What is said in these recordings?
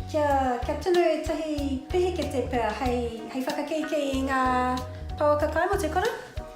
Kia tunu ētahi pehekete pea hei whakakeikei i ngā pouaka kai mō te kura.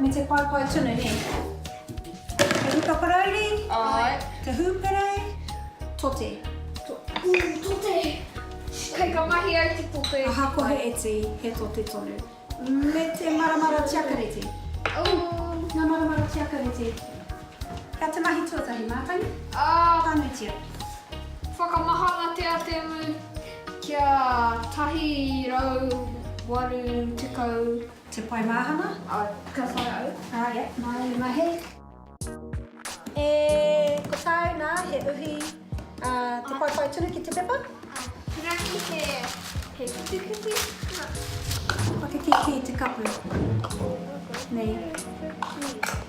Me te paepae tunu, nē? Te huka parauri? Āe. Te hūperei? Tote. Ui, tote! Kei ka mahi ai te tote. Ahakoa he iti, he tote tonu. Me te maramara tiakarete? Ū. Ngā maramara tiakarete. Ka te mahi tuatahi mātanga ā pānuitia. Whakamahana te ateamu kia tahi rau waru tekau. Te pae māhana. Ka whai au. Ā, ia, māna i mahi. E, ko tāu nā, he uhi, ā, te paepae tunu ki te pepa. Rangi he, he whitiwhiti. Whakakīkī te kapu. Nei.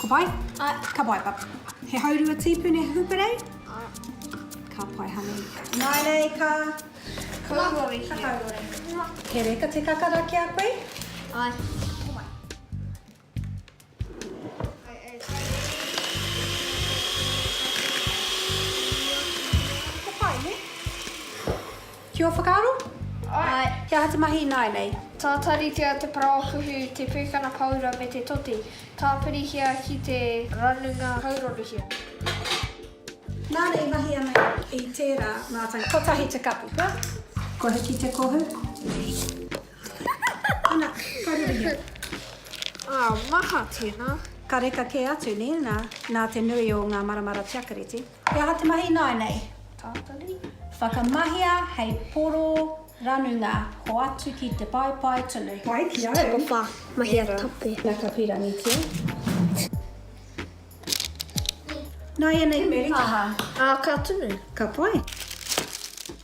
Ka pai? Ka pai papi. He haurua tīpuni huparei? Ka pai honey. Nainei ka kauori hia. He reka te kakara ki a koe? Ae. Ka pai ne? Ki ō whakaaro? Ae. He aha te mahi ināianei? Tātaritia te paraohuhu, te pūkana paura me te toti. Tāpirihia ki te ranunga hauroruhia. Nāna i mahi ana i tērā mātanga. Kotahi te kapu, kua. Kohi ki te kohu. Ana, hauroruhia. Ā, maha, tēnā. Ka reka kē atu, nē, nā, nā te nui o ngā maramara tiakareti. He aha te mahi ināianei? Tātari. Whakamahia hei poro ranunga hoatu ki te paepae tunu. Wai ki au. Tuku wha, mahia tape. Na ka pīrangitia. Nāianei te pāha. Ā, ka tunu. Ka pai.